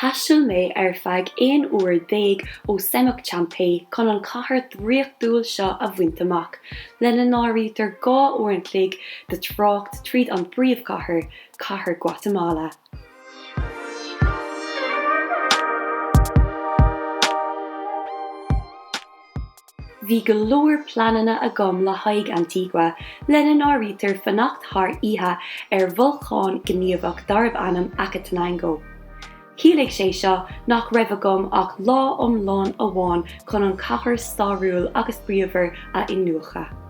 Thaistil mé ar feadh aon uair déag ó Semuc Champey chun an chathair dhraíochtúil seo a bhaint amach, lena n-áirítear dhá uair an chloig de trácht tríd an bpríomhchathair, Cathair Guatamala. Bhí go leor pleananna agam le haghaidh Antigua, lena n-áirítear fanacht thar oíche ar bholcán gníomhach darbh ainm Acatenango. Chiallaigh sé seo nach raibh agam ach lá iomlán amháin chun an chathair stairiúil agus bríomhar a iniúchadh.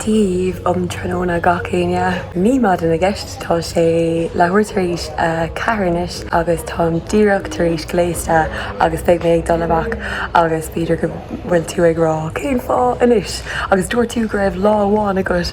Daoibh um tráthnóna gach éinne. Ní maidin i gceist, tá sé leathuair tar éis a ceathair anois agus táim díreach tar éis gléasta agus beidh mé ag dul amach agus b'fhéidir go bhfuil tú ag rá cén fáth anois agus dúirt tú go raibh lá amháin agat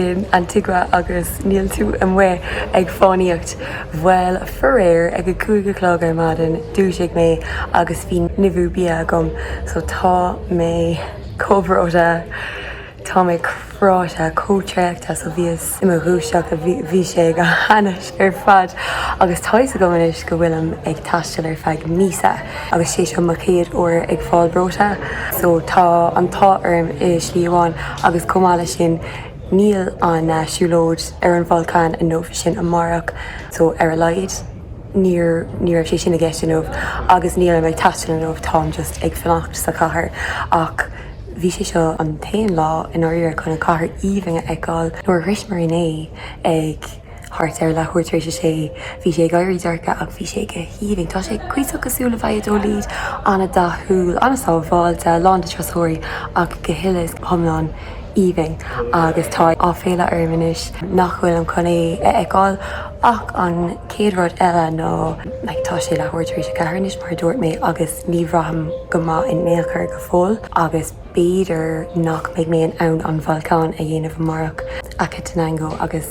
in Antigua agus níl tú amuigh ag fánaíocht. Bhuel, faraor, ag a cúig a chlog ar maidin, dhúisigh mé agus bhí nimhiú bia agam so tá mé. Chomh breoite, Tá mé cráite chomh traochta is a bhíos i mo dhúiseacht a bhí sé go hainnis ar fad agus tá fhios agam anois go bhfuilim ag taisteal ar feadh míosa agus sé seo mo chéad uair ag fáil breoite so tá an t-ádh orm i slí amháin agus chomh maith le sin níl an siúlóid ar an bholcán inniu, tá sé sin amárach so ar a laghad. níor, ní raibh sé sin i gceist inniu agus nílim ag taisteal inniu, táim just ag fanacht sa chathair ach bhí sé seo an t-aon lá i ndáiríre chun an chathair aoibhinn a fheiceáil. Nuair a shrois mé inné ag thart ar leathuair tar éis a sé, bhí sé ag éirí dorcha ach bhí sé go haoibhinn. Tá sé cuíosach cosúil le Valladolid, an-dathúil, an-sábháilte, lán de turasóirí ach go huile is go hiomlán aoibhinn agus tá áiféala orm anois nach bhfuilim chun é a fheiceáil. Ach an chéad rud eile ná like tá sé leathuair tar éis a ceathair anois mar a dúirt mé agus ní bhraithim go maith in aon chor go fóill agus b'fhéidir nach mbeidh mé in ann an bholcán a dhéanamh amárach Acatenango agus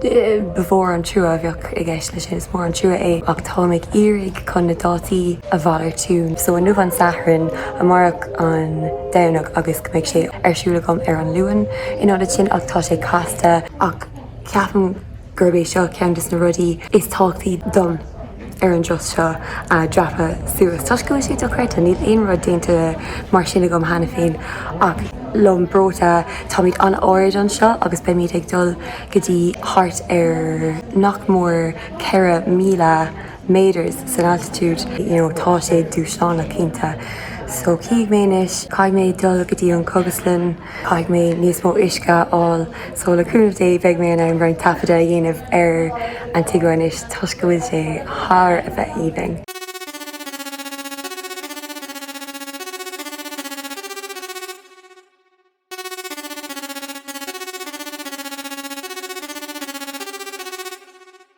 ba mhór an trua a bheadh i gceist leis sin, is mór an trua é ach táim ag iarraidh chun na dátaí a mhalartú so inniu an Satharn, amárach an Domhnach agus go mbeidh sé ar siúl agam ar an Luan in ionad sin ach tá sé casta ach ceapaim. gurb é seo ceann de na rudaí is tábhachtaí dom ar an dturas seo a dreapadh suas toisc go bhfuil sé dochreidte. Níl aon rud déanta mar sin agam cheana féin ach liom breoite. Táimid an-ard anseo agus beimid ag dul go dtí thart ar nach mór 4,000 metres san altitude. You know, tá sé dúshlánach cinnte. So, chífidh mé anois. Caithfidh mé dul go dtí an chógaslann. Caithfidh mé níos mó uisce a fháil so le cúnamh Dé beidh mé in ann roinnt taifeada a dhéanamh ar Antigua anois toisc go bhfuil sé thar a bheith aoibhinn.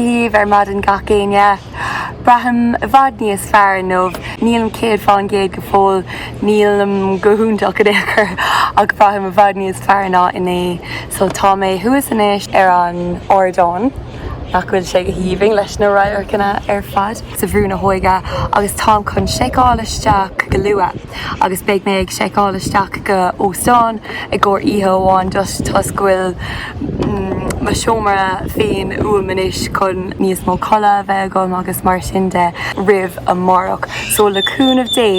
daoibh ar maidin gach éinne. Braithim i bhfad níos fearr inniu. Nílim céad fán gcéad go fóill, nílim go hiontach in aon chor, ach braithim i bhfad níos fearr ná inné. So tá mé thuas anois ar an ardán, nach bhfuil sé go haoibhinn leis na radharcanna ar fad sa Bhrú na hÓige, agus táim chun seiceáil isteach go luath. agus beidh mé ag seiceáil isteach go hóstán i gcomhair oíche amháin just toisc go bhfuil mo seomra féin uaim anois chun níos mó codladh a bheith agam agus mar sin de roimh amárach. So le cúnamh Dé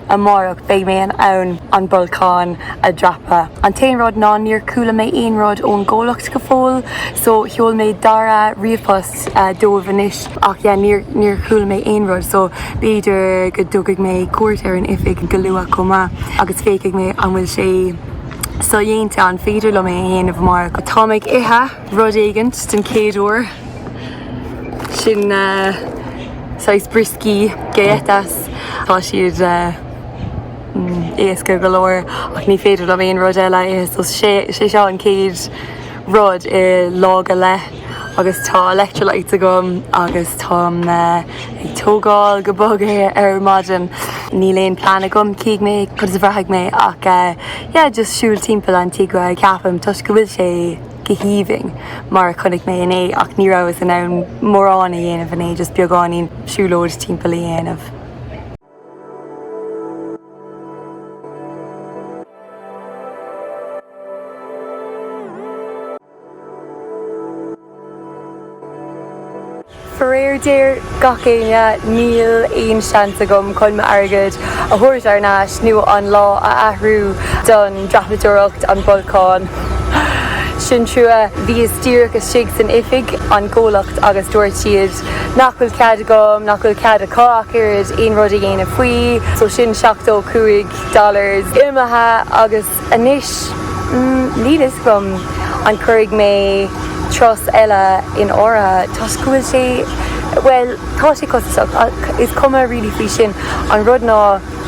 amárach beidh mé in ann an bolcán a dhreapadh. An t-aon rud ná níor chuala mé aon rud ón gcomhlacht go fóill so sheol mé dara ríomhpost. dóibh anois ach yeah níor níor chuala mé aon rud so b'fhéidir go dtabharfaidh mé cuairt ar an oifig go luath chomh maith agus féachfaidh mé an bhfuil sé sodhéanta an féidir liom é a dhéanamh mar táim ag ithe rud éigint den chéad uair sin saghas brioscaí galletas tá siad éasca go leor ach ní féidir liom aon rud eile a ithe so sé sé seo an chéad rud i lá go leith. agus tá electrolytes agam agus táim ag tógaint go bog ar maidin níl aon plean agam cífidh mé conas a bhraithfidh mé ach yeah just siúl timpeall Antigua ceapaim toisc go bhfuil sé go haoibhinn mar a chonaic mé inné ach ní rabhas in ann mórán a dhéanamh inné just beagáinín siúlóid timpeall a dhéanamh. Faraor géar gach éinne níl aon seans agam chun m'airgead a thabhairt thar n-ais nó an lá a athrú don dreapadóireacht, an bolcán. Sin trua. Bhíos díreach istigh san oifig, an comhlacht, agus dúirt siad. nach bhfuil cead agam, nach bhfuil cead acu ach oiread aon rud a dhéanamh faoi, so sin seachtó cúig dollars imithe agus anois níl a fhios agam an cuirfidh mé turas eile in áirithe toisc go bhfuil sé, bhuel tá sé costasach ach is cuma really faoi sin, an rud ná.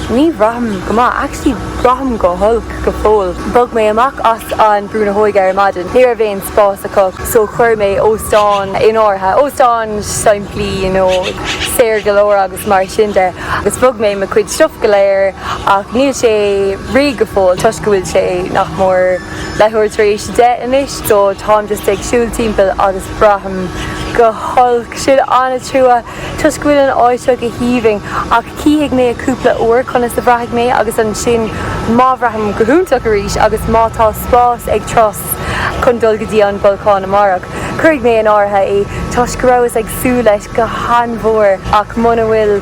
Ní bhraithim go maith. Actually, braithim go holc go fóill. Bhog mé amach as an Brú na hÓige ar maidin. Ní raibh aon spás acu, so chuir mé óstán in áirithe. Óstán simplí, you know, saor go leor agus mar sin de. Agus bhog mé mo chuid stuff go léir ach níl sé réidh go fóill toisc go bhfuil sé nach mór leathuair tar éis a deich anois, so táim just ag siúl timpeall agus braithim go holc. Sin an-trua. Toisc go bhfuil an áit seo go haoibhinn ach chífidh mé i gcúpla uair conas a bhraithfidh mé agus ansin má bhraithim go hiontach arís agus má tá spás ag turas chun dul go dtí an bolcán amárach, cuirfidh mé in áirithe é toisc go rabhas ag súil leis go han-mhór ach muna bhfuil,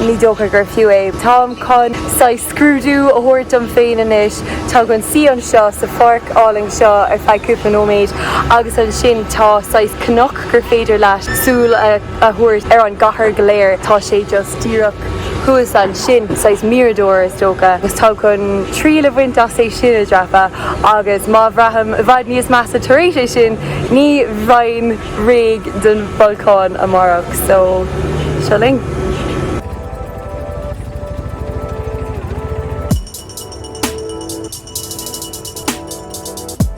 ní dócha gur fiú é. Táim chun saghas scrúdú a thabhairt dom féin anois, táim chun suí anseo sa pháirc álainn seo ar feadh cúpla nóiméad agus ansin tá saghas cnoc, gur féidir leat súil a thabhairt ar an gcathair go léir. Tá sé just díreach thuas ansin, saghas mirador is dócha, agus táim chun triail a bhaint as é sin a dhreapadh agus má bhraithim i bhfad níos measa tar éis é sin, ní bheinn réidh don bholcán amárach. So, seo linn.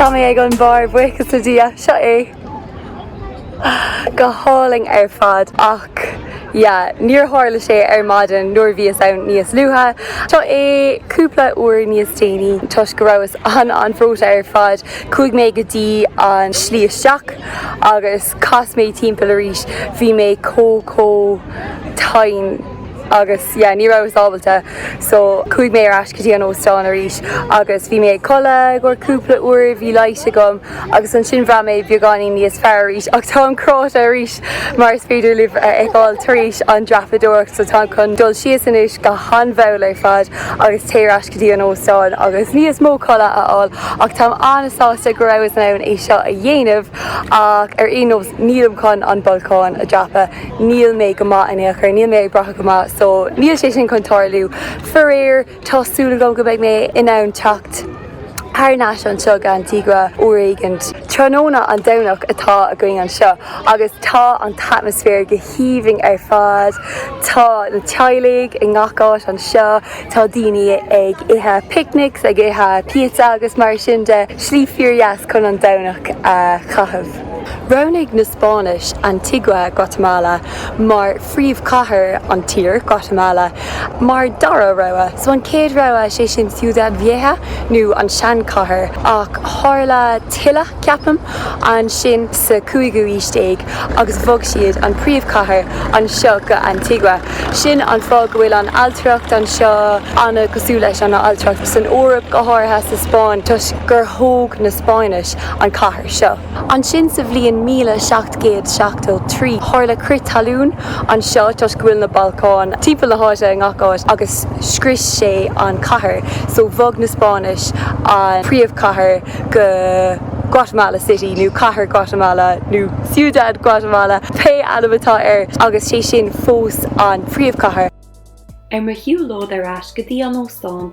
Tá mé ag an mbarr, buíochas le Dia, seo é! Go hálainn ar fad ach yeah, níor tharla sé ar maidin nuair a bhíos ann níos luaithe. Tá sé cúpla uair níos déanaí toisc go rabhas an-an-bhreoite ar fad, chuaigh mé go dtí an slí isteach agus chas mé timpeall arís, bhí mé chomh, chomh. tinn agus yeah ní rabhas ábalta so chuaigh mé ar ais go dtí an óstán arís agus bhí mé ag codladh i gcomhair cúpla uair bhí leigheas agam agus ansin bhraith mé beagáinín níos fearr arís ach táim cráite arís mar is féidir libh a fheiceáil tar éis an dreapadóireacht so táim chun dul síos anois go han-mhall ar fad agus téir ar ais go dtí an óstán agus níos mó codladh a fháil ach táim an-sásta go rabhas in ann é seo a dhéanamh ach ar aon nós nílim chun an bolcán a dreapadh. níl mé go maith in aon chor, níl mé ag brath go maith so níl sé sin chun tarlú. Faraor, tá súil agam go mbeidh mé in ann teacht thar n-ais anseo go Antigua uair éigin. Tráthnóna an Domhnach atá againn anseo agus tá an t-atmaisféar go haoibhinn ar fad. Tá na teaghlaigh i ngach áit anseo, tá daoine ag ithe picnics, ag ithe píotsa agus mar sin de. Slí fíor-dheas chun an Domhnach a chaitheamh. Roghnaigh na Spáinnis Antigua, Guatemala, mar phríomhchathair an tír, Guatamala, mar dara rogha. San chéad rogha, sé sin Ciudad Vieja, nó an seanchathair, ach tharla tuile, ceapaim, ansin sa chúigiú aois déag agus bhog siad an príomhchathair anseo go Antigua. Sin an fáth go bhfuil an ailtireacht anseo ana cosúil leis an ailtireacht san Eoraip, go háirithe sa Spáinn, toisc gur thóg na Spáinnis an chathair. seo. Ansin sa bhliain míle seacht gcéad seachtó trí tharla crith talún anseo toisc go bhfuil na bolcáin timpeall na háite i ngach áit agus scrios sé an chathair so bhog na Spáinnis an príomhchathair go Guatemala City nó Cathair Guatemala nó Ciudad Guatemala pé ainm atá air agus sé sin fós an príomhchathair. Ar mo shiúlóid ar ais go dtí an óstán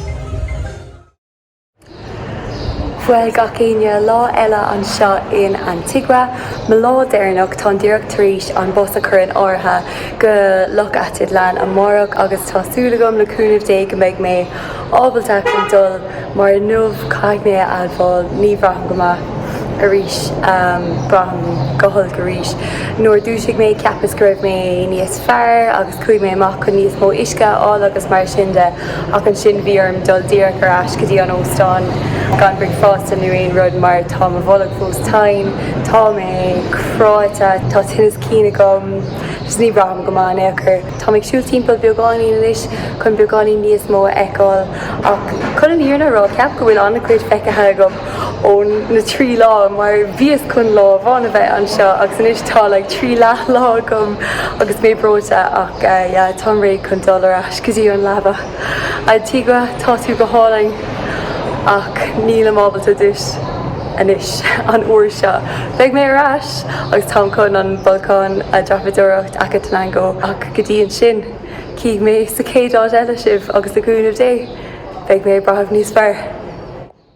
Bhuel gach éinne, lá eile anseo in Antigua. Mo lá deireanach, táim díreach tar éis an bus a chur in áirithe go Loch Atitlan amárach agus tá súil agam le cúnamh Dé go mbeidh mé ábalta dul mar inniu caithfidh mé a admháil ní bhraithim go maith arís, braithim go holc arís. Nuair a dúisigh mé ceapas go raibh mé níos fearr agus. Chuaigh mé amach chun níos mó uisce a fháil agus mar sin de ach ansin bhí orm dul díreach ar ais go dtí an óstán gan bricfeasta nó aon rud mar tá mo bholg fós tinn, tá mé cráite, tá tinneas cinn agam agus ní bhraithim go maith in aon chor. Táim ag siúl timpeall beagáinín anois chun beagáinín níos mó a fheiceáil ach chun an fhírinne a rá, ceapaim go bhfuil an-chuid feicthe agam. ó na trí lá mar bhíos chun lá amháin a bheith anseo agus anois tá like trí leath lá agam agus mé breoite ach yeah táim réidh chun dul ar ais go dtí an leaba. Antigua tá tú go hálainn ach nílim ábalta duit anois an uair seo. Beidh mé ar ais agus táim chun an bolcán a dreapadóireacht Acatenango ach go dtí ansin cífidh mé sa chéad áit eile sibh agus le cúnamh Dé beidh mé ag brathamh níos fearr.